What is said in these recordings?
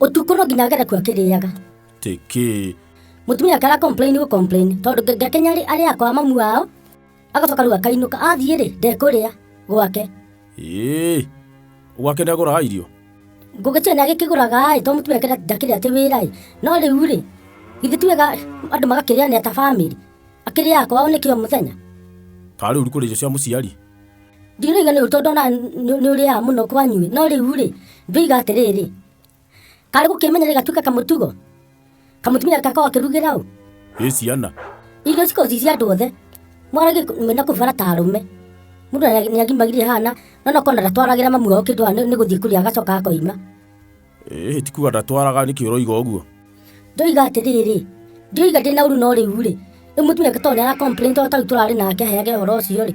Ũtukũ no nginya ngere kuo akĩrĩaga. Tĩkĩ. Mũtumia akara complain gũ complain tondũ ngĩkenya rĩ arĩ akwa mamu wao agacoka rĩu akainũka athiĩ rĩ ndekũrĩa gwake. Ĩĩ. Gwake nĩ agũraga irio. Ngũgĩtire nĩ agĩkĩgũraga ĩ to mũtumia kĩrĩa ndakĩrĩ atĩ wĩra ĩ no rĩu rĩ githĩ ti wega andũ magakĩrĩanĩra ta family akĩrĩaga kwao nĩkĩ o mũthenya. Karĩ ũru kũrĩa irio cia mũciari. ndiriga nĩ tondũ ona nĩ nĩ ũrĩaga mũno kwanyu no rĩu rĩ ndũiga atĩrĩrĩ karĩ gũkĩmenya rĩ gatuĩka kamũtugo kamũtumia gakorwo akĩrugĩra ũ ĩ ciana irio cikorwo ci cia andũ othe mwarage mwena kũbara ta arũme mũndũ nĩ agimagirie hana no no kona ndatwaragĩra mamu wao kĩndũ haha nĩ nĩ gũthiĩ kũrĩa agacoka akoima ĩ ti kuga ndatwaraga nĩ kĩ ũroiga ũguo ndoiga atĩrĩrĩ ndoiga ndĩ na ũru no rĩu rĩ rĩu mũtumia gatorĩ ara complain tondũ tarĩu tũrarĩ nake aheage ũhoro ũcio rĩ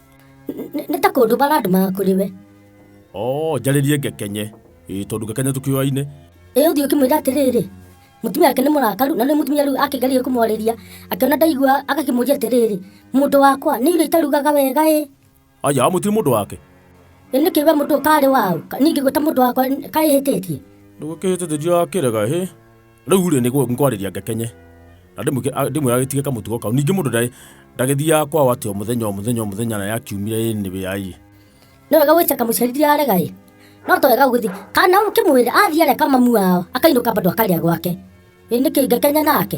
Nĩ- nĩ ta kũndũ marandũmaga kũrĩ we o njarĩrie ngekenye Ĩĩ, tondũ ngekenye tũkĩoaine ĩ ũthiĩ ũkĩmwĩra atĩrĩrĩ mũtumia wake nĩ mũrakaru na nĩ mũtumia rĩu akĩgeria kũmwarĩria akĩona ndaigua agakĩmũria atĩrĩrĩ mũndũ wakwa nĩ irio itarugaga wega ĩ aya amũtirĩ mũndũ wake ĩ nĩkĩ we mũndũ ũtarĩ wau ningĩ gwĩta mũndũ wakwa kaĩhĩtĩtie ndũgũkĩhĩtĩtĩrio akĩrega hĩ rĩu rĩ nĩguo nkwarĩria ngekenye na ndĩmwĩra agĩtige kamũtugo kau ningĩ mũndũ ndarĩ ndagĩthiaga kwao atĩ o mũthenya o mũthenya o mũthenya na yakiumire ĩ nĩ wĩya ĩ nä wega gwä caka må ciarithiri arega ä no to wega gå thiä kana kä mwä re athiä areka mamu wao akainå ka mbandå akarä a gwake ä nä kä ngekenya nake